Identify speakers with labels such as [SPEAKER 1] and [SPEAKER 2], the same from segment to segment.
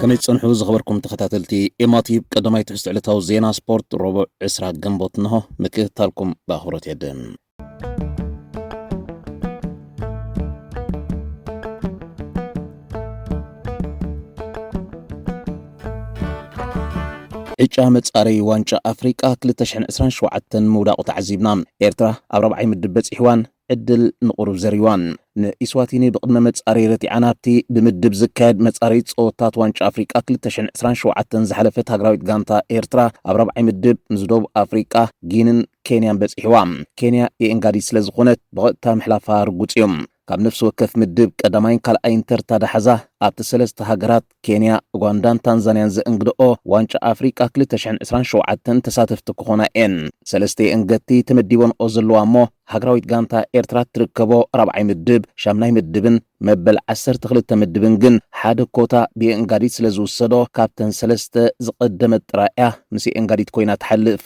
[SPEAKER 1] ከመይ ትጸንሑ ዝኸበርኩም ተኸታተልቲ ኤማቲብ ቀዳማይ ትሕዝቶ ዕለታዊ ዜና ስፖርት ረቡዕ ዕስራ ግንቦት እንሆ ምክትታልኩም ብኣኽብሮት የድን ዕጫ መጻረዪ ዋንጫ ኣፍሪቃ 2027 ምውዳቑ ተዓዚብና። ኤርትራ ኣብ ራብዓይ ምድብ በጺሕዋን ዕድል ንቑሩብ ዘሪዋን። ንኢስዋቲኒ ብቕድመ መጻረዪ ረቲዓ ናብቲ ብምድብ ዝካየድ መጻረዪ ጸወታት ዋንጫ ኣፍሪቃ 2027 ዝሓለፈት ሃገራዊት ጋንታ ኤርትራ፣ ኣብ ራብዓይ ምድብ ምስ ደቡብ ኣፍሪቃ፣ ጊኒን ኬንያን በጺሕዋ። ኬንያ የኤንጋዲ ስለ ዝኾነት ብቐጥታ ምሕላፋ ርጉጽ እዩ። ካብ ነፍሲ ወከፍ ምድብ ቀዳማይን ካልኣይን ተርታ ዳሕዛ ኣብቲ ሰለስተ ሃገራት ኬንያ፣ ኡጋንዳን ታንዛንያን ዘእንግድኦ ዋንጫ ኣፍሪቃ ክልተ ሽሕን ዕስራን ሸውዓተን ተሳተፍቲ ክኾና እየን። ሰለስተ የእንገድቲ ተመዲበንኦ ዘለዋ እሞ ሃገራዊት ጋንታ ኤርትራ እትርከቦ ራብዓይ ምድብ፣ ሻምናይ ምድብን መበል ዓሰርተ ክልተ ምድብን ግን ሓደ ኮታ ብኤንጋዲት ስለ ዝውሰዶ ካብተን ሰለስተ ዝቐደመት ጥራይ እያ ምስ ኤንጋዲት ኮይና ትሓልፍ።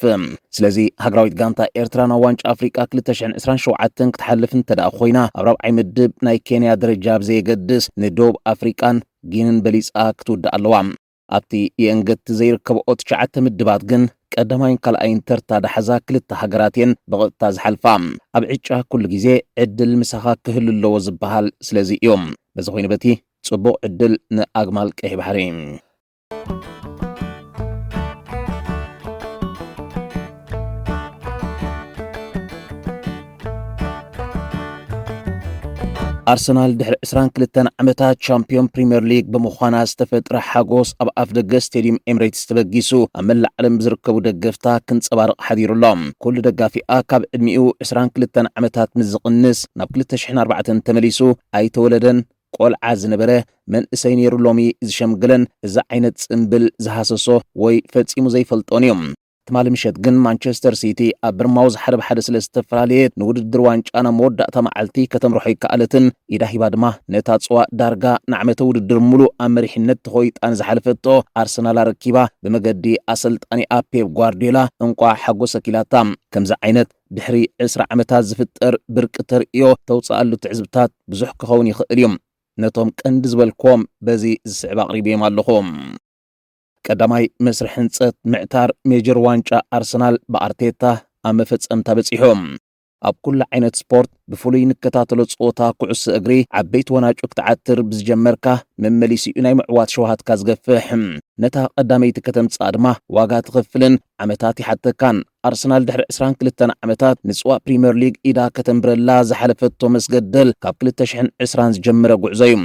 [SPEAKER 1] ስለዚ ሃገራዊት ጋንታ ኤርትራ ናብ ዋንጫ ኣፍሪቃ ክልተ ሽሕን ዕስራን ሸውዓተን ክትሓልፍ እንተድኣ ኮይና ኣብ ራብዓይ ምድብ ናይ ኬንያ ደረጃ ብዘየገድስ ንዶብ ኣፍሪቃን ጊንን በሊጻ ክትውዳእ ኣለዋ። ኣብቲ የእንገድቲ ዘይርከብኦ ትሽዓተ ምድባት ግን ቀዳማይን ካልኣይን ተርታ ዳሓዛ ክልተ ሃገራት እየን ብቐጥታ ዝሓልፋ። ኣብ ዕጫ ኩሉ ግዜ ዕድል ምሳኻ ክህሉ ኣለዎ ዝበሃል ስለዚ እዩ። በዚ ኮይኑ በቲ ጽቡቕ ዕድል ንኣግማል ቀይሕ ባሕሪ። ኣርሰናል ድሕሪ 22 ዓመታት ቻምፒዮን ፕሪምየር ሊግ ብምዃና ዝተፈጥረ ሓጎስ ኣብ ኣፍ ደገ ስቴድዩም ኤምሬትስ ተበጊሱ ኣብ መላእ ዓለም ዝርከቡ ደገፍታ ክንጸባርቕ ሓዲሩ ኣሎ። ኩሉ ደጋፊኣ ካብ ዕድሚኡ 22 ዓመታት ምስ ዝቕንስ ናብ 2004 ተመሊሱ ኣይተወለደን ቆልዓ ዝነበረ መንእሰይ ነይሩ ሎሚ ዝሸምግለን እዚ ዓይነት ጽምብል ዝሃሰሶ ወይ ፈጺሙ ዘይፈልጦን እዩ። ትማሊ ምሸት ግን ማንቸስተር ሲቲ ኣብ ብርማውዝ ሓደ ብሓደ ስለ ዝተፈላለየት ንውድድር ዋንጫ ናብ መወዳእታ መዓልቲ ከተምርሖ ኣይከኣለትን። ኢዳ ሂባ ድማ ነታ ጽዋእ ዳርጋ ንዓመተ ውድድር ምሉእ ኣብ መሪሕነት ተኾይጣ ንዝሓለፈቶ ኣርሰናል ኣረኪባ ብመገዲ ኣሰልጣኒኣ ፔፕ ጓርድዮላ እንቋዕ ሓጎሰኪ ኢላታ። ከምዚ ዓይነት ድሕሪ ዕስራ ዓመታት ዝፍጠር ብርቂ ተርእዮ ተውጽኣሉ ትዕዝብታት ብዙሕ ክኸውን ይኽእል እዩ። ነቶም ቀንዲ ዝበልክዎም በዚ ዝስዕብ ኣቕሪበዮም ኣለኹ። ቀዳማይ መስርሕ ህንፀት ምዕታር ሜጀር ዋንጫ ኣርሰናል ብኣርቴታ ኣብ መፈፀምታ በፂሑ። ኣብ ኩሉ ዓይነት ስፖርት ብፍሉይ ንከታተሎ ፀወታ ኩዕሶ እግሪ ዓበይቲ ወናጩ ክትዓትር ብዝጀመርካ መመሊሲኡ ናይ ምዕዋት ሸውሃትካ ዝገፍሕ ነታ ቀዳመይቲ ከተምፅኣ ድማ ዋጋ ትኸፍልን ዓመታት ይሓተካን ኣርሰናል ድሕሪ 22 ዓመታት ንፅዋ ፕሪምየር ሊግ ኢዳ ከተንብረላ ዝሓለፈቶ መስገደል ካብ 2020 ዝጀመረ ጉዕዞ እዩ።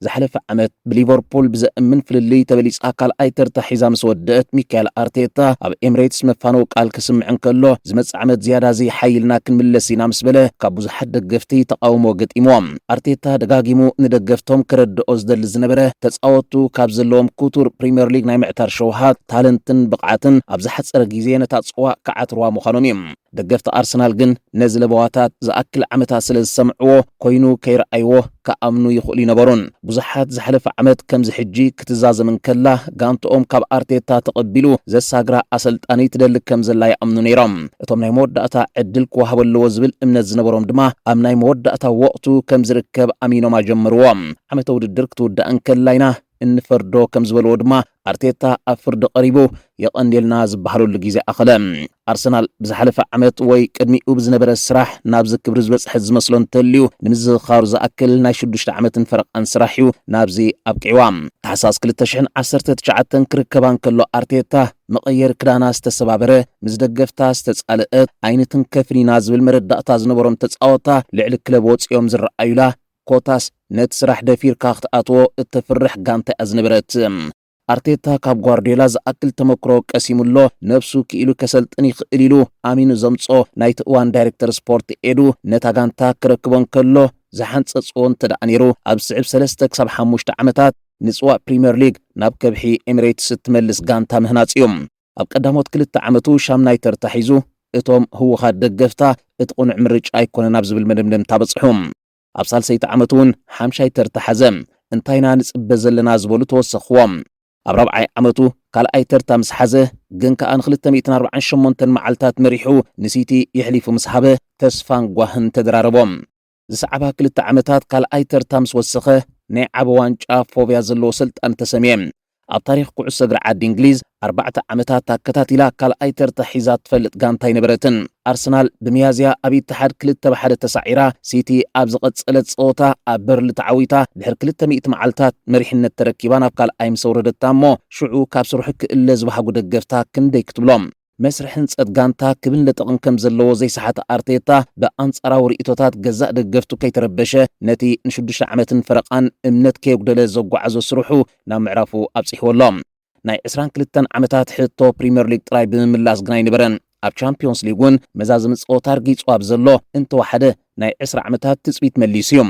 [SPEAKER 1] ዝሓለፈ ዓመት ብሊቨርፑል ብዘእምን ፍልልይ ተበሊጻ ካልኣይ ተርታ ሒዛ ምስ ወደእት ሚካኤል ኣርቴታ ኣብ ኤምሬትስ መፋነዊ ቃል ክስምዕ እንከሎ ዝመጽእ ዓመት ዝያዳ ዘይሓይልና ክንምለስ ኢና ምስ በለ ካብ ብዙሓት ደገፍቲ ተቓውሞ ገጢምዎ። ኣርቴታ ደጋጊሙ ንደገፍቶም ከረድኦ ዝደሊ ዝነበረ ተጻወቱ ካብ ዘለዎም ክቱር ፕሪምየር ሊግ ናይ ምዕታር ሸውሃት፣ ታለንትን ብቕዓትን ኣብ ዝሓጸረ ግዜ ነታ ጽዋእ ክዓትርዋ ምዃኖም እዩ። ደገፍቲ ኣርሰናል ግን ነዚ ለበዋታት ዝኣክል ዓመታት ስለ ዝሰምዕዎ ኮይኑ ከይረኣይዎ ክኣምኑ ይኽእሉ ኣይነበሩን። ብዙሓት ዝሓለፈ ዓመት ከምዚ ሕጂ ክትዛዘም እንከላ ጋንትኦም ካብ ኣርቴታ ተቐቢሉ ዘሳግራ ኣሰልጣኒ ትደሊ ከም ዘላ ይኣምኑ ነይሮም። እቶም ናይ መወዳእታ ዕድል ክወሃቦ ኣለዎ ዝብል እምነት ዝነበሮም ድማ ኣብ ናይ መወዳእታ ወቕቱ ከም ዝርከብ ኣሚኖም ኣጀመርዎ። ዓመተ ውድድር ክትውዳእ እንከላ ኢና እንፈርዶ ከም ዝበልዎ ድማ ኣርቴታ ኣብ ፍርዲ ቀሪቡ የቐንየልና ዝበሃለሉ ግዜ ኣኸለ። ኣርሰናል ብዝሓለፈ ዓመት ወይ ቅድሚኡ ብዝነበረ ስራሕ ናብዚ ክብሪ ዝበጽሐት ዝመስሎ እንተልዩ ንምዝኽኻሩ ዝኣክል ናይ ሽዱሽተ ዓመትን ፈረቓን ስራሕ'ዩ ናብዚ ኣብቂዕዋ። ታሕሳስ ክልተ ሽሕን ዓሰርተ ትሽዓተን ክርከባ እንከሎ ኣርቴታ መቐየሪ ክዳና ዝተሰባበረ፣ ምስ ደገፍታ ዝተጻልእት፣ ኣይንትንከፍን ኢና ዝብል መረዳእታ ዝነበሮም ተጻወታ ልዕሊ ክለብ ወጺኦም ዝረኣዩላ ኮታስ ነቲ ስራሕ ደፊርካ ክትኣትዎ እተፍርሕ ጋንታ እያ ዝነበረት። ኣርቴታ ካብ ጓርድዮላ ዝኣክል ተመክሮ ቀሲሙ ኣሎ፣ ነብሱ ክኢሉ ከሰልጥን ይኽእል ኢሉ ኣሚኑ ዘምጽኦ ናይቲ እዋን ዳይረክተር ስፖርት ኤዱ ነታ ጋንታ ክረክቦ እንከሎ ዝሓንጸጽዎ እንተደኣ ነይሩ ኣብ ዝስዕብ ሰለስተ ክሳብ ሓሙሽተ ዓመታት ንጽዋእ ፕሪምየር ሊግ ናብ ከብሒ ኤሚሬትስ እትመልስ ጋንታ ምህናጽ እዩ። ኣብ ቀዳሞት ክልተ ዓመቱ ሻምናይ ተርታ ሒዙ፣ እቶም ህወሓት ደገፍታ እቲ ቅኑዕ ምርጫ ኣይኮነን ኣብ ዝብል መደምደምታ በጽሑ። ኣብ ሳልሰይቲ ዓመቱ'ውን ሓምሻይ ተርታ ሓዘ። እንታይ ኢና ንጽበ ዘለና ዝበሉ ተወሰኽዎም። ኣብ ራብዓይ ዓመቱ ካልኣይ ተርታ ምስ ሓዘ ግን ከኣ ንክልተ ሚእትን ኣርብዓን ሸሞንተን መዓልታት መሪሑ ንሲቲ የሕሊፉ ምስ ሃበ ተስፋን ጓህን ተደራረቦም። ዝሰዕባ ክልተ ዓመታት ካልኣይ ተርታ ምስ ወሰኸ ናይ ዓበ ዋንጫ ፎብያ ዘለዎ ሰልጣኒ ተሰምየ። ኣብ ታሪኽ ኩዕሶ እግሪ ዓዲ እንግሊዝ ኣርባዕተ ዓመታት ኣከታቲላ ካልኣይ ተርታ ሒዛ እትፈልጥ ጋንታ ኣይነበረትን። ኣርሰናል ብሚያዝያ ኣብ ኢትሓድ ክልተ ብሓደ ተሳዒራ፣ ሲቲ ኣብ ዝቐጸለት ጸወታ ኣብ በርሊ ተዓዊታ ድሕሪ ክልተ ሚእቲ መዓልታት መሪሕነት ተረኪባ ናብ ካልኣይ ምስ ኣውረደታ እሞ ሽዑ ካብ ስርሑ ክእለ ዝበሃጉ ደገፍታ ክንደይ ክትብሎም። መስርሕ ህንጸት ጋንታ ክብን ለጠቕን ከም ዘለዎ ዘይሰሓተ ኣርቴታ፣ ብኣንጻራዊ ርእይቶታት ገዛእ ደገፍቱ ከይተረበሸ፣ ነቲ ንሽዱሽተ ዓመትን ፈረቓን እምነት ከየጉደለ ዘጓዓዞ ስርሑ ናብ ምዕራፉ ኣብጺሕዎ ኣሎ። ናይ ዕስራን ክልተን ዓመታት ሕቶ ፕሪምየር ሊግ ጥራይ ብምምላስ ግን ኣይነበረን። ኣብ ቻምፕዮንስ ሊግ'ውን መዛዘሚ ጸወታ ኣርጊጹ ኣብ ዘሎ፣ እንተወሓደ ናይ ዕስራ ዓመታት ትጽቢት መሊሱ'ዩ።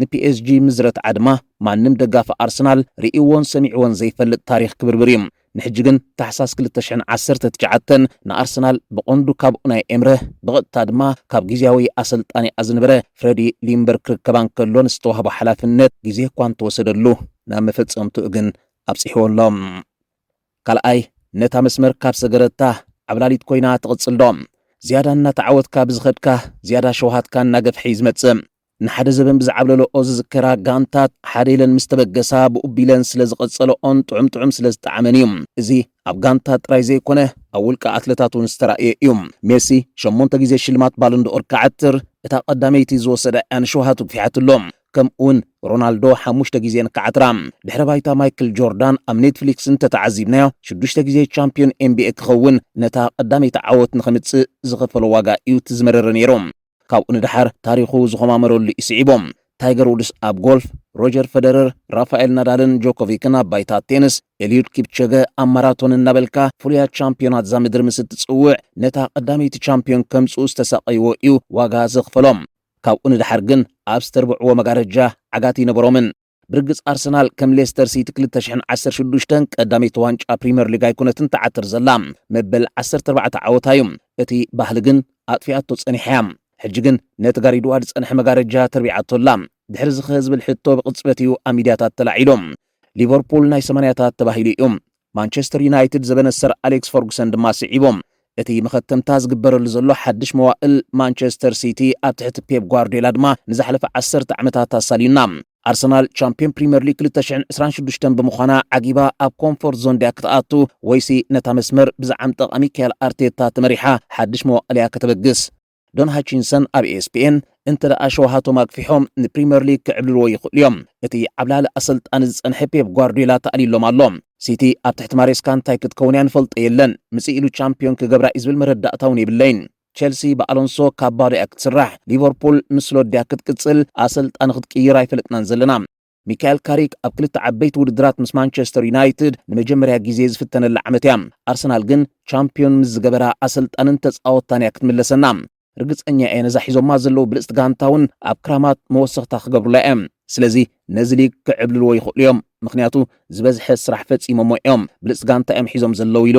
[SPEAKER 1] ንፒኤስጂ ምስ ዝረትዓ ድማ ማንም ደጋፊ ኣርሰናል ርእይዎን ሰሚዕዎን ዘይፈልጥ ታሪኽ ክብርብር እዩ። ንሕጂ ግን ታሕሳስ ክልተ ሽሕን ዓሰርተ ትሽዓተን ንኣርሰናል ብቐንዱ ካብ ኡናይ ኤምረ ብቐጥታ ድማ ካብ ግዝያዊ ኣሰልጣኒኣ ዝነበረ ፍረዲ ሊምበር ክርከባ እንከሎ ንዝተዋህቦ ሓላፍነት ግዜ እኳ እንተወሰደሉ ናብ መፈጸምትኡ ግን ኣብጺሕዎ ኣሎ። ካልኣይ ነታ መስመር ካብ ሰገረታ ዓብላሊት ኮይና ትቕጽል ዶ? ዝያዳ እናተዓወትካ ብዝኸድካ ዝያዳ ሸውሃትካ እናገፍሐ እዩ ዝመጽእ። ንሓደ ዘበን ብዝዓብለለኦ ዝዝከራ ጋንታት ሓደ ኢለን ምስ ተበገሳ ብኡ ቢለን ስለ ዝቐጸለኦን ጥዑም ጥዑም ስለ ዝጠዓመን እዩ። እዚ ኣብ ጋንታት ጥራይ ዘይኮነ ኣብ ውልቀ ኣትለታት እውን ዝተራእየ እዩ። ሜሲ ሸሞንተ ግዜ ሽልማት ባሎንዶ'ኦር ክዓትር እታ ቀዳመይቲ ዝወሰዳ እያ ንሸውሃቱ ግፊሓትሉ። ከምኡ'ውን ሮናልዶ ሓሙሽተ ግዜ ንክዓትራ። ድሕረ ባይታ ማይክል ጆርዳን ኣብ ኔትፍሊክስ እንተተዓዚብናዮ ሽዱሽተ ግዜ ቻምፕዮን ኤንቢኤ ክኸውን ነታ ቀዳመይቲ ዓወት ንኸምጽእ ዝኸፈሎ ዋጋ እዩ እቲ ዝመረረ ነይሩ። ካብኡ ንደሓር ታሪኹ ዝዀማመረሉ እዩ ስዒቡ። ታይገር ውድስ ኣብ ጎልፍ፣ ሮጀር ፈደረር፣ ራፋኤል ናዳልን ጆኮቪክን ኣብ ባይታ ቴንስ፣ ኤልዩድ ኪፕቸገ ኣብ ማራቶን እናበልካ ፍሉያት ቻምፕዮናት እዛ ምድሪ ምስ እትጽውዕ ነታ ቀዳመይቲ ቻምፕዮን ከምጽኡ ዝተሳቐይዎ እዩ ዋጋ ዘኽፈሎም። ካብኡ ንደሓር ግን ኣብ ዝተርብዕዎ መጋረጃ ዓጋቲ ኣይነበሮምን። ብርግጽ ኣርሰናል ከም ሌስተር ሲቲ 2016 ቀዳመይቲ ዋንጫ ፕሪምየር ሊግ ኣይኮነትን ትዓትር ዘላ መበል 14 ዓወታ እዩ። እቲ ባህሊ ግን ኣጥፊኣቶ ጸኒሓ እያ። ሕጂ ግን ነቲ ጋሪድዋ ዝጸንሐ መጋረጃ ተርቢዓቶ ኣላ። ድሕሪ እዚ ከ ዝብል ሕቶ ብቕጽበት እዩ ኣብ ሚድያታት ተላዒሉ። ሊቨርፑል ናይ ሰማንያታት ተባሂሉ እዩ። ማንቸስተር ዩናይትድ ዘበነ ሰር ኣሌክስ ፈርጉሰን ድማ ስዒቦም እቲ መኸተምታ ዝግበረሉ ዘሎ ሓድሽ መዋእል ማንቸስተር ሲቲ ኣብ ትሕቲ ፔፕ ጓርድዮላ ድማ ንዝሓለፈ ዓሰርተ ዓመታት ኣሳልዩና። ኣርሰናል ቻምፕዮን ፕሪምየር ሊግ ክልተ ሽሕን ዕስራን ሽዱሽተን ብምዃና ዓጊባ ኣብ ኮምፎርት ዞን ድያ ክትኣቱ ወይሲ ነታ መስመር ብዝዓም ጠቓሚ ሚካኤል ኣርቴታ ተመሪሓ ሓድሽ መዋእል እያ ከተበግስ? ዶን ሃቺንሰን ኣብ ኤስፒኤን እንተ ደኣ ሸውሃቶም ኣግፊሖም ንፕሪምየር ሊግ ክዕብልልዎ ይኽእሉ እዮም። እቲ ዓብላሊ ኣሰልጣኒ ዝጸንሐ ፔፕ ጓርዲዮላ ተኣልዩሎም ኣሎ። ሲቲ ኣብ ትሕቲ ማሬስካ እንታይ ክትከውን እያ ንፈልጦ የለን፣ ምጽእ ኢሉ ቻምፕዮን ክገብራ እዩ ዝብል መረዳእታ እውን የብለይን። ቸልሲ ብኣሎንሶ ካብ ባዶ እያ ክትስራሕ፣ ሊቨርፑል ምስ ስሎት ድያ ክትቅጽል ኣሰልጣኒ ክትቅይር ኣይፈለጥናን ዘለና። ሚካኤል ካሪክ ኣብ ክልተ ዓበይቲ ውድድራት ምስ ማንቸስተር ዩናይትድ ንመጀመርያ ግዜ ዝፍተነላ ዓመት እያ። ኣርሰናል ግን ቻምፒዮን ምስ ዝገበራ ኣሰልጣንን ተጻወታን እያ ክትምለሰና። ርግጸኛ እየ ነዛ ሒዞማ ዘለዉ ብልጽቲ ጋንታ እውን ኣብ ክራማት መወሰኽታ ክገብሩላ እዮም። ስለዚ ነዚ ሊግ ክዕብልልዎ ይኽእሉ እዮም፣ ምክንያቱ ዝበዝሐ ስራሕ ፈጺሞሞ እዮም፣ ብልጽቲ ጋንታ እዮም ሒዞም ዘለዉ ኢሉ።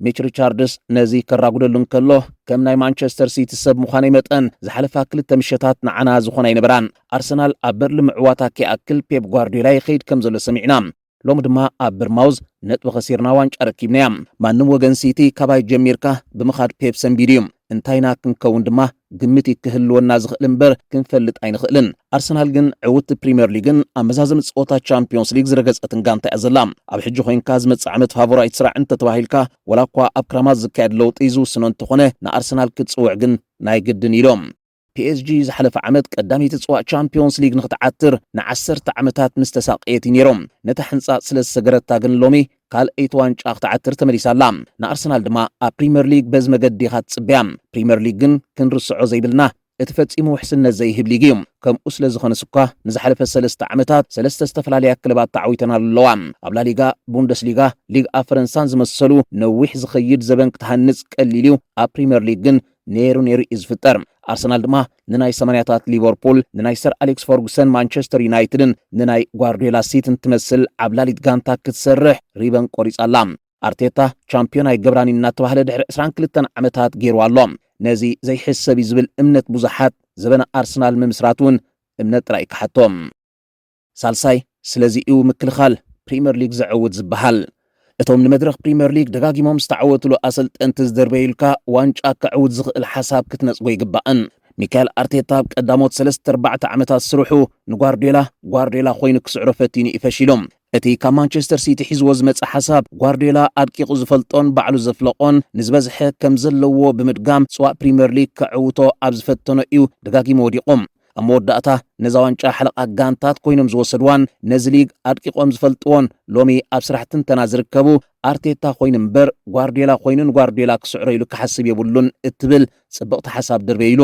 [SPEAKER 1] ሚች ሪቻርድስ ነዚ ከራጉደሉ እንከሎ ከም ናይ ማንቸስተር ሲቲ ሰብ ምዃነይ መጠን ዝሓለፋ ክልተ ምሸታት ንዓና ዝኾና ኣይነበራን፣ ኣርሰናል ኣብ በርሊ ምዕዋታ ከይኣክል ፔፕ ጓርዲዮላ ይኸይድ ከም ዘሎ ሰሚዕና። ሎሚ ድማ ኣብ ብርማውዝ ነጥቢ ከሲርና ዋንጫ ረኪብናያ። ማንም ወገን ሲቲ ካባይ ጀሚርካ ብምኻድ ፔፕ ሰንቢዱ እዩ። እንታይ ኢና ክንከውን ድማ ግምት እዩ ክህልወና ዝኽእል እምበር ክንፈልጥ ኣይንኽእልን። ኣርሰናል ግን ዕውቲ ፕሪምየር ሊግን ኣብ መዛዘሚ ፀወታ ቻምፒዮንስ ሊግ ዝረገፀትን ጋንታ እያ ዘላ። ኣብ ሕጂ ኮይንካ ዝመፅእ ዓመት ፋቮራይት ስራዕ እንተተባሂልካ ዋላ እኳ ኣብ ክራማት ዝካየድ ለውጢ ዝውስኖ እንተኾነ ንኣርሰናል ክትፅውዕ ግን ናይ ግድን እዩ ኢሎም። ፒኤስጂ ዝሓለፈ ዓመት ቀዳመይቲ ጽዋእ ቻምፕዮንስ ሊግ ንኽትዓትር ንዓሰርተ ዓመታት ምስ ተሳቀየት እዩ ነይሩ። ነታ ሕንጻጽ ስለ ዝሰገረታ ግን ሎሚ ካልኣይቲ ዋንጫ ክትዓትር ተመሊሳ ኣላ። ንኣርሰናል ድማ ኣብ ፕሪመር ሊግ በዚ መገዲ ኢኻ ትጽበያ። ፕሪመር ሊግ ግን ክንርስዖ ዘይብልና እቲ ፈጺሙ ውሕስነት ዘይህብ ሊግ እዩ። ከምኡ ስለ ዝኾነስ እኳ ንዝሓለፈ ሰለስተ ዓመታት ሰለስተ ዝተፈላለያ ክለባት ተዓዊተናሉ ኣለዋ። ኣብ ላሊጋ፣ ቡንደስሊጋ፣ ሊግ ኣብ ፈረንሳን ዝመሰሉ ነዊሕ ዝኸይድ ዘበን ክትሃንጽ ቀሊል እዩ፣ ኣብ ፕሪመር ሊግ ግን ነይሩ ነይሩ እዩ ዝፍጠር። ኣርሰናል ድማ ንናይ ሰማንያታት ሊቨርፑል፣ ንናይ ሰር ኣሌክስ ፈርጉሰን ማንቸስተር ዩናይትድን ንናይ ጓርዲዮላ ሲትን ትመስል ዓብላሊት ጋንታ ክትሰርሕ ሪበን ቆሪጻ ኣላ። ኣርቴታ ቻምፒዮን ኣይገብራን እዩ እናተባህለ ድሕሪ 22 ዓመታት ገይርዋ ኣሎ። ነዚ ዘይሕሰብ እዩ ዝብል እምነት ብዙሓት፣ ዘበነ ኣርሰናል ምምስራት እውን እምነት ጥራይ እዩ ክሓቶ። ሳልሳይ፣ ስለዚ'ዩ ምክልኻል ፕሪመር ሊግ ዘዕውት ዝበሃል። እቶም ንመድረኽ ፕሪመር ሊግ ደጋጊሞም ዝተዓወትሉ ኣሰልጠንቲ ዝድርበዩልካ ዋንጫ ከዕውት ዝኽእል ሓሳብ ክትነጽጎ ይግባእን። ሚካኤል ኣርቴታ ኣብ ቀዳሞት ሰለስተ ኣርባዕተ ዓመታት ስርሑ ንጓርድዮላ ጓርድዮላ ኮይኑ ክስዕሮ ፈቲኑ'ዩ ፈሺሉ። እቲ ካብ ማንቸስተር ሲቲ ሒዝዎ ዝመጸ ሓሳብ ጓርድዮላ ኣድቂቑ ዝፈልጦን ባዕሉ ዘፍለቖን ንዝበዝሐ ከምዘለዎ ብምድጋም ጽዋእ ፕሪመር ሊግ ከዕውቶ ኣብ ዝፈተኖ እዩ ደጋጊሙ ወዲቑ። ኣብ መወዳእታ ነዛ ዋንጫ ሓለቓ ጋንታት ኮይኖም ዝወሰድዋን ነዚ ሊግ ኣድቂቖም ዝፈልጥዎን ሎሚ ኣብ ስራሕ ትንተና ዝርከቡ ኣርቴታ ኮይኑ እምበር ጓርድዮላ ኮይኑ ንጓርድዮላ ክስዕሮ ኢሉ ክሓስብ የብሉን እትብል ጽብቕቲ ሓሳብ ድርበይ ኢሉ።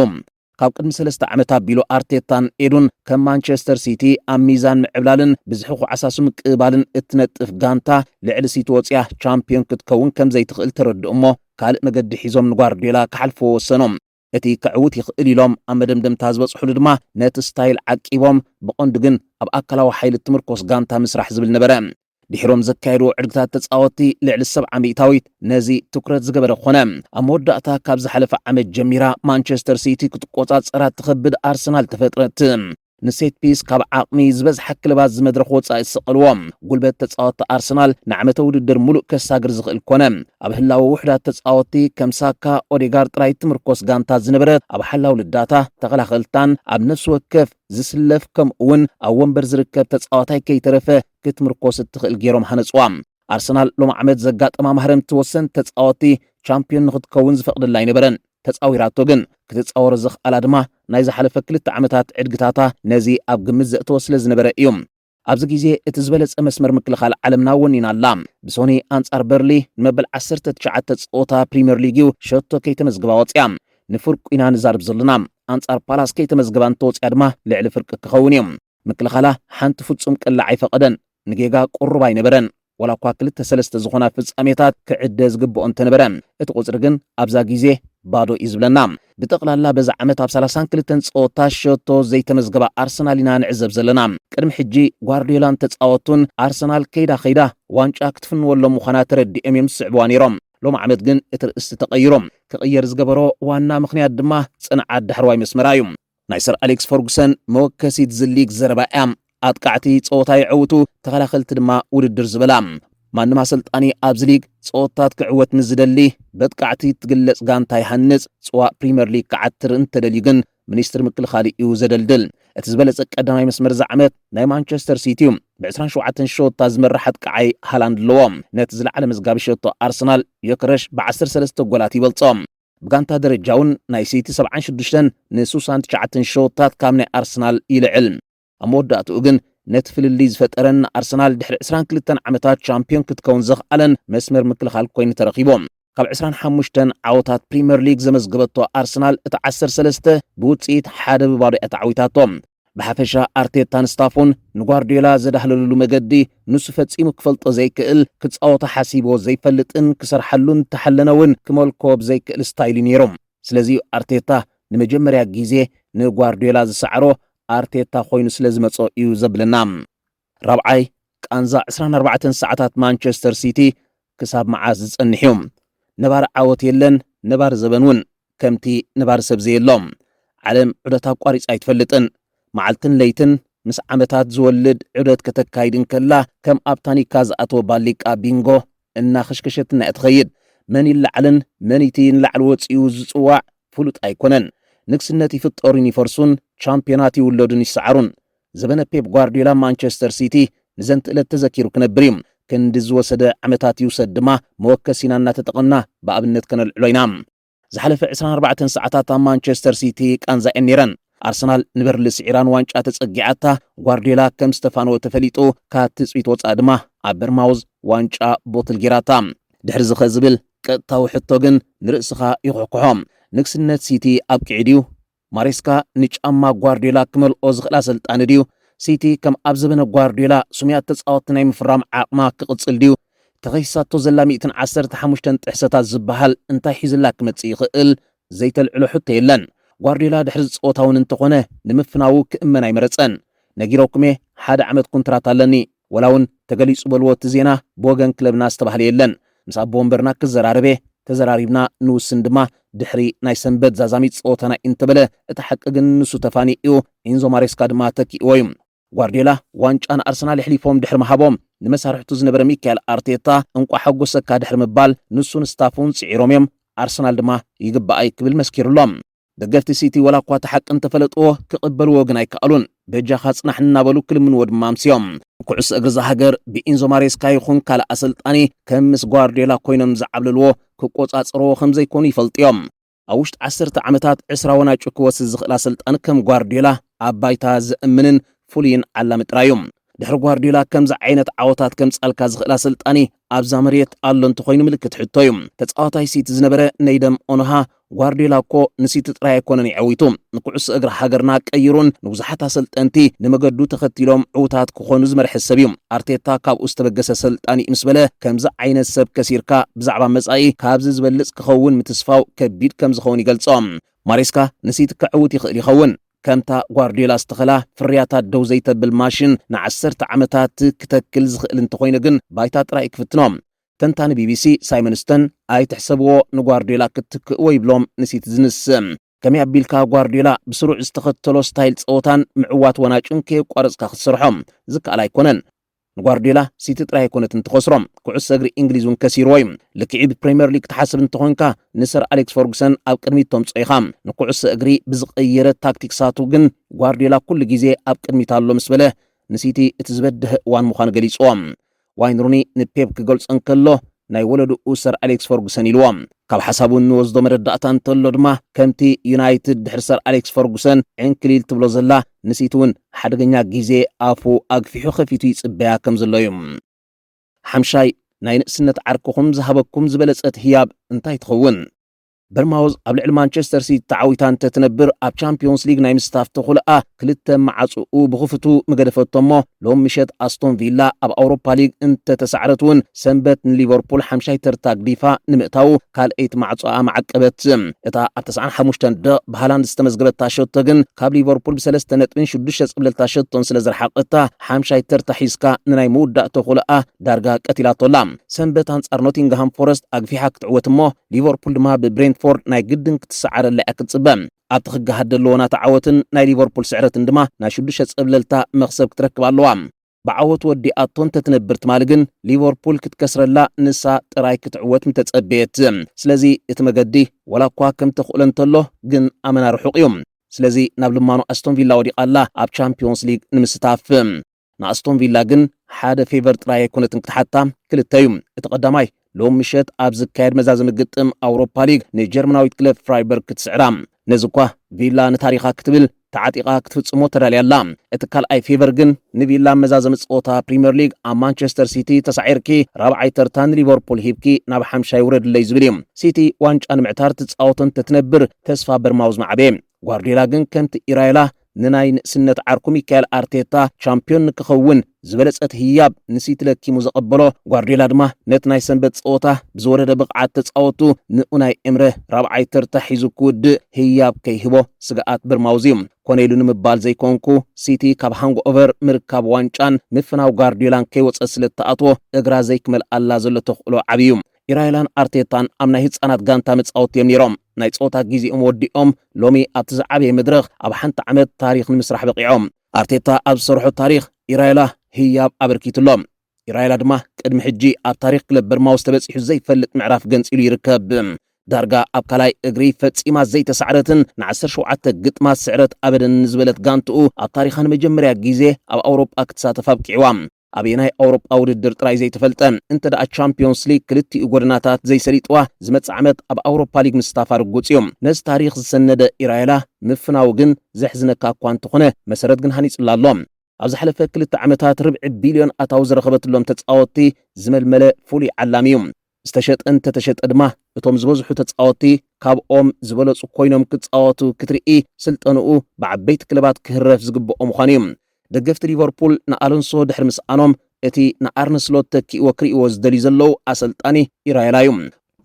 [SPEAKER 1] ካብ ቅድሚ ሰለስተ ዓመት ኣቢሉ ኣርቴታን ኤዱን ከም ማንቸስተር ሲቲ ኣብ ሚዛን ምዕብላልን ብዝሒ ኩዓሳሱ ምቅብባልን እትነጥፍ ጋንታ ልዕሊ ሲቲ ወጺኣ ቻምፕዮን ክትከውን ከምዘይትኽእል ተረድኡ'ሞ ካልእ መገዲ ሒዞም ንጓርድዮላ ክሓልፍዎ ወሰኑ። እቲ ከዕውት ይኽእል ኢሎም ኣብ መደምደምታ ዝበጽሑሉ ድማ ነቲ ስታይል ዓቂቦም ብቐንዱ ግን ኣብ ኣካላዊ ሓይሊ እትምርኮስ ጋንታ ምስራሕ ዝብል ነበረ። ድሒሮም ዘካየድዎ ዕድግታት ተጻወትቲ ልዕሊ ሰብዓ ሚእታዊት ነዚ ትኩረት ዝገበረ ኮነ። ኣብ መወዳእታ ካብ ዝሓለፈ ዓመት ጀሚራ ማንቸስተር ሲቲ ክትቆጻጸራ እትኸብድ ኣርሰናል ተፈጥረት። ንሴት ፒስ ካብ ዓቕሚ ዝበዝሓ ክለባት ዝመድረኽ ወጻኢ ዝሰቐልዎ ጉልበት ተጻወቲ ኣርሰናል ንዓመተ ውድድር ሙሉእ ከሳግር ዝኽእል ኮነ። ኣብ ህላወ ውሑዳት ተጻወቲ ከም ሳካ፣ ኦዴጋር ጥራይ ትምርኮስ ጋንታ ዝነበረት ኣብ ሓላው ልዳታ፣ ተኸላኸልታን ኣብ ነፍሲ ወከፍ ዝስለፍ ከምኡ'ውን ኣብ ወንበር ዝርከብ ተጻዋታይ ከይተረፈ ክትምርኮስ እትኽእል ጌሮም ሃነጽዋ። ኣርሰናል ሎሚ ዓመት ዘጋጠማ ማህረምቲ ወሰንቲ ተጻወቲ ቻምፕዮን ንኽትከውን ዝፈቕደላ ኣይነበረን። ተጻዊራቶ ግን። ክትጻወሮ ዘኽኣላ ድማ ናይ ዝሓለፈ ክልተ ዓመታት ዕድግታታ ነዚ ኣብ ግምት ዘእተወ ስለ ዝነበረ እዩ። ኣብዚ ግዜ እቲ ዝበለጸ መስመር ምክልኻል ዓለምና ወኒና ኣላ። ብሶኒ ኣንጻር በርሊ ንመበል ዓሰርተ ትሽዓተ ጸወታ ፕሪምየር ሊግ እዩ ሸቶ ከይተመዝግባ ወጺኣ። ንፍርቁ ኢና ንዛርብ ዘለና። ኣንጻር ፓላስ ከይተመዝገባ እንተወጺኣ ድማ ልዕሊ ፍርቂ ክኸውን እዩ። ምክልኻላ ሓንቲ ፍጹም ቅላዕ ኣይፈቐደን። ንጌጋ ቅሩብ ኣይነበረን። ዋላ እኳ ክልተ ሰለስተ ዝኾና ፍጻሜታት ክዕደ ዝግብኦ እንተነበረ፣ እቲ ቁጽሪ ግን ኣብዛ ግዜ ባዶ እዩ ዝብለና። ብጠቕላላ በዚ ዓመት ኣብ ሰላሳን ክልተን ጸወታ ሸቶ ዘይተመዝገባ ኣርሰናል ኢና ንዕዘብ ዘለና። ቅድሚ ሕጂ ጓርድዮላን ተጻወቱን ኣርሰናል ከይዳ ከይዳ ዋንጫ ክትፍንወሎም ምዃና ተረዲኦም እዮም ዝስዕብዋ ነይሮም። ሎሚ ዓመት ግን እቲ ርእስቲ ተቐይሩ። ክቕየር ዝገበሮ ዋና ምኽንያት ድማ ጽንዓት ዳሕረዋይ መስመራ እዩ። ናይ ሰር ኣሌክስ ፈርጉሰን መወከሲት ዝሊግ ዘረባ እያ። ኣጥቃዕቲ ጸወታ ይዕውቱ፣ ተኸላኸልቲ ድማ ውድድር ዝበላ። ማንም ኣሰልጣኒ ኣብዚ ሊግ ጸወታት ክዕወት ንዝደሊ በጥቃዕቲ እትግለጽ ጋንታ ይሃንጽ፣ ጽዋእ ፕሪመር ሊግ ክዓትር እንተደልዩ ግን ሚኒስትሪ ምክልኻል እዩ ዘደልድል። እቲ ዝበለጸ ቀዳማይ መስመር እዚ ዓመት ናይ ማንቸስተር ሲቲ እዩ። ብ27 ሸወታ ዝመርሕ ኣጥቃዓይ ሃላንድ ኣለዎ። ነቲ ዝለዓለ መዝጋቢ ሸቶ ኣርሰናል ዮከረሽ ብ13 ጎላት ይበልጾ። ብጋንታ ደረጃውን ናይ ሲቲ ሰብዓን ሽዱሽተን ንሱሳን ትሽዓተን ሸወታት ካብ ናይ ኣርሰናል ይልዕል። ኣብ መወዳእትኡ ግን ነቲ ፍልልይ ዝፈጠረን ንኣርሰናል ድሕሪ ዕስራን ክልተን ዓመታት ቻምፕዮን ክትከውን ዘኽኣለን መስመር ምክልኻል ኮይኑ ተረኺቡ። ካብ ዕስራን ሓሙሽተን ዓወታት ፕሪመር ሊግ ዘመዝገበቶ ኣርሰናል እቲ ዓሰርተ ሰለስተ ብውጽኢት ሓደ ብባዶ እያ ተዓዊታቶ። ብሓፈሻ ኣርቴታን ስታፉን ንጓርድዮላ ዘዳህለሉሉ መገዲ ንሱ ፈጺሙ ክፈልጦ ዘይክእል፣ ክጻወቶ ሓሲብዎ ዘይፈልጥን ክሰርሓሉ እንተሓለነ እውን ክመልኮ ብዘይክእል ስታይል እዩ ነይሩ። ስለዚ'ዩ ኣርቴታ ንመጀመርያ ግዜ ንጓርድዮላ ዝሰዓሮ ኣርቴታ ኮይኑ ስለዝመጾ እዩ ዘብለና። ራብዓይ፣ ቃንዛ ዕስራን ኣርባዕተን ሰዓታት ማንቸስተር ሲቲ ክሳብ መዓስ ዝጸንሕ እዩ? ነባሪ ዓወት የለን፣ ነባሪ ዘበን ውን ከምቲ ነባሪ ሰብ ዘየሎ። ዓለም ዑደት ኣቋሪጻ ኣይትፈልጥን። መዓልትን ለይትን ምስ ዓመታት ዝወልድ ዑደት ከተካይድ እንከላ ከም ኣብ ታኒካ ዝኣተወ ባሊቃ ቢንጎ እናኸሽከሸትና እያ ትኸይድ። መን ይለዓልን መን'ቲ ንላዕሊ ወጺኡ ዝጽዋዕ ፍሉጥ ኣይኮነን። ንግስነት ይፍጠሩን ይፈርሱን፣ ቻምፕዮናት ይውለዱን ይሰዓሩን፣ ዘበነ ፔፕ ጓርድዮላ ማንቸስተር ሲቲ ንዘንት እለት ተዘኪሩ ክነብር እዩ። ክንዲ ዝወሰደ ዓመታት ይውሰድ ድማ መወከሲና እናተጠቐምና ብኣብነት ከነልዕሎ ኢና። ዝሓለፈ ዕስራን ኣርባዕተን ሰዓታት ኣብ ማንቸስተር ሲቲ ቃንዛ እየን ነይረን። ኣርሰናል ንበርሊ ስዒራ ንዋንጫ ተጸጊዓታ፣ ጓርድዮላ ከም ዝተፋነወ ተፈሊጡ፣ ካብ ትጽቢት ወጻኢ ድማ ኣብ በርማውዝ ዋንጫ ቦትል ጌራታ። ድሕርዚ ከ ዝብል ቀጥታዊ ሕቶ ግን ንርእስኻ ይኹሕኩሖ። ንግስነት ሲቲ ኣብቂዑ ድዩ? ማሬስካ ንጫማ ጓርድዮላ ክመልኦ ዝኽእል ኣሰልጣኒ ድዩ? ሲቲ ከም ኣብ ዘበነ ጓርድዮላ ስሙያት ተጻወትቲ ናይ ምፍራም ዓቕማ ክቕጽል ድዩ? ተኸሲሳቶ ዘላ ሚእትን ዓሰርተ ሓሙሽተን ጥሕሰታት ዝበሃል እንታይ ሒዙላ ክመጽእ ይኽእል? ዘይተልዕሎ ሕቶ የለን። ጓርድዮላ ድሕሪ ዝጸወታ'ውን እንተኾነ ንምፍናዉ ክእመን ኣይመረጸን። ነጊረኩም'የ ሓደ ዓመት ኩንትራት ኣለኒ። ወላውን ተገሊጹ በልዎ እቲ ዜና ብወገን ክለብና ዝተባህለ የለን። ምስ ኣቦ ወንበርና ክዘራረብ'የ፣ ተዘራሪብና ንውስን ድማ ድሕሪ ናይ ሰንበት ዛዛሚት ጸወታና'ዩ እንተበለ እቲ ሓቂ ግን ንሱ ተፋኒዩ'ዩ፣ ኢንዞ ማሬስካ ድማ ተኪእዎ'ዩ። ጓርድዮላ ዋንጫ ንኣርሰናል የሕሊፎም ድሕሪ ምሃቦም፣ ንመሳርሕቱ ዝነበረ ሚካኤል ኣርቴታ እንቋዕ ሓጎሰካ ድሕሪ ምባል ንሱን ስታፉን ጽዒሮም'ዮም፣ ኣርሰናል ድማ ይግበኣይ ክብል መስኪሩ'ሎ። ደገፍቲ ሲቲ ወላ እኳ እቲ ሓቂ እንተፈለጥዎ ክቕበልዎ ግን ኣይከኣሉን። በጃኻ ጽናሕ እናበሉ ክልምንዎ ድማ ኣምስዮም። ኩዕሶ እግሪ እዛ ሃገር ብኢንዞ ማሬስካ ይኹን ካልእ ኣሰልጣኒ ከም ምስ ጓርድዮላ ኮይኖም ዝዓብለልዎ ክቆጻጸርዎ ከም ዘይኮኑ ይፈልጡ እዮም። ኣብ ውሽጢ ዓሰርተ ዓመታት ዕስራ ወናጩ ክወስድ ዝኽእል ኣሰልጣኒ ከም ጓርድዮላ ኣብ ባይታ ዘእምንን ፍሉይን ዓላሚ ጥራይ እዩ። ድሕሪ ጓርዲዮላ ከምዚ ዓይነት ዓወታት ከምጻልካ ዝኽእል ኣሰልጣኒ ኣብዛ መሬት ኣሎ እንተኾይኑ ምልክት ሕቶ እዩ። ተጻዋታይ ሲቲ ዝነበረ ነይደም ኦኖሃ ጓርዲዮላ እኮ ንሲቲ ጥራይ ኣይኮነን የዐዊቱ ንኩዕሶ እግሪ ሃገርና ቀይሩን ንብዙሓት ኣሰልጠንቲ ንመገዱ ተኸቲሎም ዕውታት ክኾኑ ዝመርሐ ሰብ እዩ። ኣርቴታ ካብኡ ዝተበገሰ ኣሰልጣኒ እዩ ምስ በለ ከምዚ ዓይነት ሰብ ከሲርካ ብዛዕባ መጻኢ ካብዚ ዝበልጽ ክኸውን ምትስፋው ከቢድ ከምዝኸውን ይገልጾ። ማሬስካ ንሲቲ ከዕውት ይኽእል ይኸውን። ከምታ ጓርድዮላ ዝተኸላ ፍርያታ ደው ዘይተብል ማሽን ንዓሰርተ ዓመታት ክተክል ዝኽእል እንተኾይኑ ግን ባይታ ጥራይ እዩ ክፍትኖ። ተንታኒ ቢቢሲ ሳይመን ስተን ኣይትሕሰብዎ ንጓርድዮላ ክትክእዎ ይብሎም ንሲቲዝንስ። ከመይ ኣቢልካ ጓርድዮላ ብስሩዕ ዝተኸተሎ ስታይል ጸወታን ምዕዋት ዋናጩን ከየቋረጽካ ክትሰርሖ ዝከኣል ኣይኮነን። ንጓርድዮላ ሲቲ ጥራይ ኣይኮነትን ትኸስሮ፣ ኩዕሶ እግሪ እንግሊዝ እውን ከሲርዎ እዩ። ልክዕ'ዩ ብፕሪምየር ሊግ ክትሓስብ እንተኾይንካ ንሰር ኣሌክስ ፈርጉሰን ኣብ ቅድሚት ተምጽኦ ኢኻ። ንኩዕሶ እግሪ ብዝቐየረ ታክቲክሳቱ ግን ጓርድዮላ ኩሉ ግዜ ኣብ ቅድሚት ኣሎ ምስ በለ ንሲቲ እቲ ዝበደሀ እዋን ምዃኑ ገሊጽዎ። ዋይን ሩኒ ንፔፕ ክገልጾ እንከሎ ናይ ወለድኡ ሰር ኣሌክስ ፈርጉሰን ኢልዎ። ካብ ሓሳቡ እንወስዶ መረዳእታ እንተሎ ድማ ከምቲ ዩናይትድ ድሕሪ ሰር ኣሌክስ ፈርጉሰን ዕንክሊል ትብሎ ዘላ ንሲቲ እውን ሓደገኛ ግዜ ኣፉ ኣግፊሑ ከፊቱ ይጽበያ ከም ዘሎ እዩ። ሓምሻይ፣ ናይ ንእስነት ዓርክኹም ዝሃበኩም ዝበለጸት ህያብ እንታይ ትኸውን? በርማውዝ ኣብ ልዕሊ ማንቸስተር ሲቲ ተዓዊታ እንተ ትነብር ኣብ ቻምፕዮንስ ሊግ ናይ ምስታፍ ተኹልኣ ክልተ መዓጽኡ ብኽፉቱ ምገደፈቶ እሞ ሎም ምሸት ኣስቶን ቪላ ኣብ ኣውሮፓ ሊግ እንተ ተሳዕረት እውን ሰንበት ንሊቨርፑል ሓምሻይ ተርታ ግዲፋ ንምእታዉ ካልኣይቲ ማዕጾኣ መዓቀበት። እታ ኣብ ተስዓን ሓሙሽተን ደቕ ብሃላንድ ዝተመዝገበታ ሸቶ ግን ካብ ሊቨርፑል ብሰለስተ ነጥብን ሽዱሽተ ጽብለልታ ሸቶን ስለ ዘርሓቐታ ሓምሻይ ተርታ ሒዝካ ንናይ ምውዳእ ተኹልኣ ዳርጋ ቀቲላቶ ኣላ። ሰንበት ኣንጻር ኖቲንግሃም ፎረስት ኣግፊሓ ክትዕወት እሞ ሊቨርፑል ድማ ብብሬንትፎርድ ናይ ግድን ክትሰዓረላ እያ ክትጽበ። ኣብቲ ክገሃድ ደለዎ ናታ ዓወትን ናይ ሊቨርፑል ስዕረትን ድማ ናይ ሽዱሽተ ጸብለልታ መኽሰብ ክትረክብ ኣለዋ። ብዓወት ወዲኣቶ እንተትነብር ትማሊ ግን ሊቨርፑል ክትከስረላ ንሳ ጥራይ ክትዕወት ምተጸበየት። ስለዚ እቲ መገዲ ወላኳ ከም ተኽእሎ እንተሎ ግን ኣመና ርሑቕ እዩ። ስለዚ ናብ ልማኖ ኣስቶንቪላ ወዲቓ ኣላ ኣብ ቻምፕዮንስ ሊግ ንምስታፍ። ንኣስቶን ቪላ ግን ሓደ ፌቨር ጥራይ ኣይኮነትን ክትሓታ፣ ክልተ እዩ። እቲ ቀዳማይ፣ ሎሚ ምሸት ኣብ ዝካየድ መዛዘሚ ግጥም ኣውሮፓ ሊግ ንጀርመናዊት ክለብ ፍራይበርግ ክትስዕራ። ነዚ እኳ ቪላ ንታሪኻ ክትብል ተዓጢቓ ክትፍጽሞ ተዳልያ ኣላ። እቲ ካልኣይ ፌቨር ግን ንቪላ ኣብ መዛዘሚ ጸወታ ፕሪመር ሊግ ኣብ ማንቸስተር ሲቲ ተሳዒርኪ ራብዓይ ተርታ ንሊቨርፑል ሂብኪ ናብ ሓምሻይ ውረድለይ ዝብል እዩ። ሲቲ ዋንጫ ንምዕታር ትጻወቶ እንተትነብር ተስፋ በርማውዝ ምዓበየ። ጓርድዮላ ግን ከምቲ ኢራዮላ ንናይ ንእስነት ዓርኩ ሚካኤል ኣርቴታ ቻምፕዮን ንክኸውን ዝበለጸት ህያብ ንሲቲ ለኪሙ ዘቐበሎ ጓርድዮላ ድማ ነቲ ናይ ሰንበት ጸወታ ብዝወረደ ብቕዓት ተጻወቱ ንኡናይ ኤምረ ራብዓይ ተርታ ሒዙ ክውድእ ህያብ ከይህቦ ስግኣት በርማውዝ'ዩ። ኮነ ኢሉ ንምባል ዘይኮንኩ ሲቲ ካብ ሃንግኦቨር ምርካብ ዋንጫን ምፍናው ጓርድዮላን ከይወጸት ስለእትኣትዎ እግራ ዘይክመልኣላ ዘሎ ተኽእሎ ዓቢ'ዩ። ኢራይላን ኣርቴታን ኣብ ናይ ህፃናት ጋንታ መፃወቲ እዮም ነይሮም። ናይ ፀወታ ግዜኦም ወዲኦም ሎሚ ኣብቲ ዝዓበየ መድረኽ ኣብ ሓንቲ ዓመት ታሪኽ ንምስራሕ በቒዖም። ኣርቴታ ኣብ ዝሰርሖ ታሪኽ ኢራይላ ህያብ ኣበርኪቱ ኣሎ። ኢራይላ ድማ ቅድሚ ሕጂ ኣብ ታሪኽ ክለብ በርማውዝ ተበጺሑ ዘይፈልጥ ምዕራፍ ገንጺሉ ይርከብ። ዳርጋ ኣብ ካልኣይ እግሪ ፈጺማ ዘይተሳዕረትን ንዓሰርተ ሸውዓተ ግጥማት ስዕረት ኣበደንን ንዝበለት ጋንትኡ ኣብ ታሪኻ ንመጀመርያ ግዜ ኣብ ኣውሮጳ ክትሳተፍ ኣብቂዕዋ። ኣበየናይ ኣውሮጳ ውድድር ጥራይ ዘይተፈልጠ፣ እንተደኣ ቻምፕዮንስ ሊግ ክልቲኡ ጎደናታት ዘይሰሊጥዋ፣ ዝመጽእ ዓመት ኣብ ኣውሮፓ ሊግ ምስታፋ ርጉጽ እዩ። ነዚ ታሪኽ ዝሰነደ ኢራዮላ ምፍናዉ ግን ዘሕዝነካ እኳ እንተኾነ፣ መሰረት ግን ሃኒጹላ ኣሎ። ኣብ ዝሓለፈ ክልተ ዓመታት ርብዒ ቢልዮን ኣታዊ ዝረኸበትሎም ተጻወትቲ ዝመልመለ ፍሉይ ዓላሚ እዩ። ዝተሸጠ እንተተሸጠ ድማ እቶም ዝበዝሑ ተጻወትቲ ካብኦም ዝበለጹ ኮይኖም ክጻወቱ ክትርኢ ስልጠንኡ ብዓበይቲ ክለባት ክህረፍ ዝግብኦ ምዃኑ እዩ። ደገፍቲ ሊቨርፑል ንኣሎንሶ ድሕሪ ምስኣኖም እቲ ንኣርነ ስሎት ተኪእዎ ክርእይዎ ዝደልዩ ዘለዉ ኣሰልጣኒ ኢራዮላ እዩ።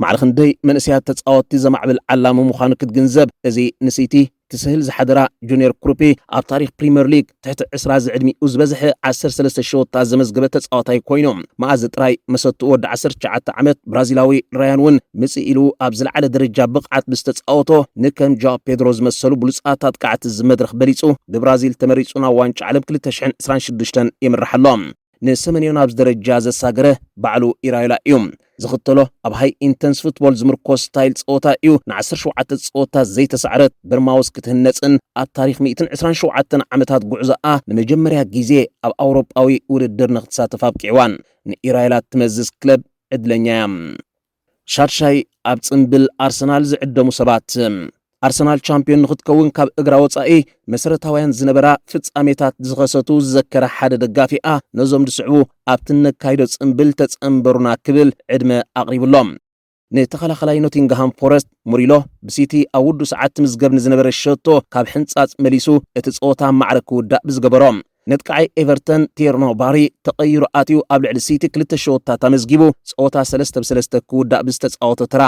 [SPEAKER 1] ማዕረ ክንደይ መንእሰያት ተጻወትቲ ዘማዕብል ዓላሚ ምዃኑ ክትግንዘብ እዚ ንሲቲ ትስህል ዝሓደራ ጁንየር ክሩፒ ኣብ ታሪኽ ፕሪመር ሊግ ትሕቲ ዕስራ ዝዕድሚኡ ዝበዝሐ ዓሰርተ ሰለስተ ሸወታ ዘመዝገበ ተጻዋታይ ኮይኑ፣ መኣዝ ጥራይ መሰትኡ ወዲ ዓሰርተ ትሽዓተ ዓመት ብራዚላዊ ራያን ውን ምጽእ ኢሉ ኣብ ዝለዓለ ደረጃ ብቕዓት ብዝተጻወቶ ንከም ጃኦ ፔድሮ ዝመሰሉ ብሉጻት ኣጥቃዕቲ እዚ መድረኽ በሊጹ ብብራዚል ተመሪጹ ናብ ዋንጫ ዓለም ክልተ ሽሕን ዕስራን ሽዱሽተን የምርሕ ኣሎ። ንሰመንዮ ናብዚ ደረጃ ዘሳገረ ባዕሉ ኢራዮላ እዩ። ዝኽተሎ ኣብ ሃይ ኢንተንስ ፉትቦል ዝምርኮስ ስታይል ጸወታ እዩ። ንዓሰርተ ሸውዓተ ጸወታት ዘይተሳዕረት በርማውዝ ክትህነጽን ኣብ ታሪኽ ሚእትን ዕስራን ሸውዓተን ዓመታት ጉዕዞኣ ንመጀመርያ ግዜ ኣብ ኣውሮጳዊ ውድድር ንኽትሳተፍ ኣብቂዕዋን ንኢራዮላ እትመዝዝ ክለብ ዕድለኛ'ያ። ሻድሻይ ኣብ ጽምብል ኣርሰናል ዝዕደሙ ሰባት፣ ኣርሰናል ቻምፕዮን ንኽትከውን ካብ እግራ ወጻኢ መሰረታውያን ዝነበራ ፍጻሜታት ዝኸሰቱ ዝዘከረ ሓደ ደጋፊኣ፣ ነዞም ዝስዕቡ ኣብቲ እነካይዶ ጽምብል ተጸንበሩና ክብል ዕድመ ኣቕሪቡ'ሎ። ንተኸላኸላይ ኖቲንግሃም ፎረስት ሙሪሎ፣ ብሲቲ ኣብ ውዱእ ሰዓት ትምዝገብ ንዝነበረ ሸቶ ካብ ሕንጻጽ መሊሱ እቲ ጸወታ ማዕረ ክውዳእ ብዝገበሮ ነጥቃዓይ ኤቨርተን ቲርኖ ባሪ ተቐይሩ ኣትዩ ኣብ ልዕሊ ሲቲ ክልተ ሸወታት ኣመዝጊቡ ጸወታ ሰለስተ ብ ሰለስተ ክውዳእ ብዝተጻወቶ ተራ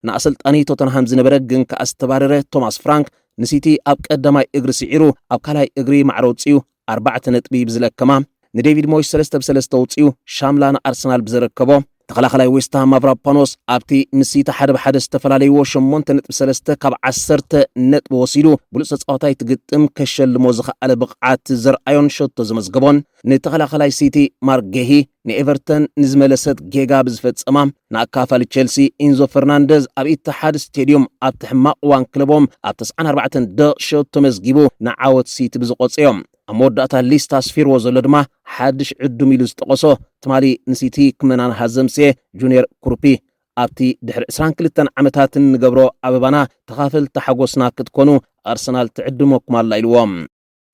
[SPEAKER 1] ንኣሰልጣኒ ቶተንሃም ዝነበረ ግን ከኣ ዝተባረረ ቶማስ ፍራንክ ንሲቲ ኣብ ቀዳማይ እግሪ ስዒሩ ኣብ ካልኣይ እግሪ ማዕረ ኣውጺኡ ኣርባዕተ ነጥቢ ብዝለከማ ንዴቪድ ሞይስ ሰለስተ ብ ሰለስተ ኣውጺኡ ሻምላ ንኣርሰናል ብዘረከቦ ተኸላኸላይ ዌስትሃም ማቭራፓኖስ ኣብቲ ምስ ሲቲ ሓደ ብሓደ ዝተፈላለይዎ ሸሞንተ ነጥቢ ሰለስተ ካብ ዓሰርተ ነጥቢ ወሲዱ ብሉፅ ተፃዋታይ እቲ ግጥም ከሸልሞ ዝኸኣለ ብቕዓት ዘርኣዮን ሸቶ ዘመዝገቦን ንተኸላኸላይ ሲቲ ማርክ ጌሂ ንኤቨርተን ንዝመለሰት ጌጋ ብዝፈፀማ ንኣካፋሊ ቼልሲ ኢንዞ ፈርናንደዝ ኣብ ኢትሓድ ስቴድዩም ኣብቲ ሕማቕ እዋን ክለቦም ኣብ ተስዓን ኣርባዕተን ደቕ ሸቶ መዝጊቡ ንዓወት ሲቲ ብዝቖፀዮም ኣብ መወዳእታ ሊስት ኣስፊርዎ ዘሎ ድማ ሓድሽ ዕዱም ኢሉ ዝጠቐሶ ትማሊ ንሲቲ ክመናንሃ ዘምጽኤ ጁንየር ኩሩፒ ኣብቲ ድሕሪ ዕስራን ክልተን ዓመታት እንገብሮ ኣበባና ተኻፈልቲ ሓጎስና ክትኮኑ ኣርሰናል ትዕድመኩም ኣላ ኢልዎ።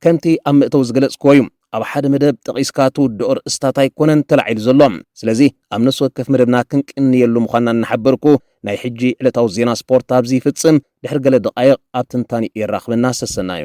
[SPEAKER 1] ከምቲ ኣብ መእተዊ ዝገለጽክዎ እዩ፣ ኣብ ሓደ መደብ ጠቒስካ ትውድኦ ኣርእስታት ኣይኮነን ተላዒሉ ዘሎ። ስለዚ ኣብ ነፍሲ ወከፍ መደብና ክንቅንየሉ ምዃንና እናሓበርኩ ናይ ሕጂ ዕለታዊ ዜና ስፖርት ኣብዚ ይፍጽም። ድሕሪ ገለ ደቓይቕ ኣብ ትንታኔኡ የራኽበና ሰሰናዩ።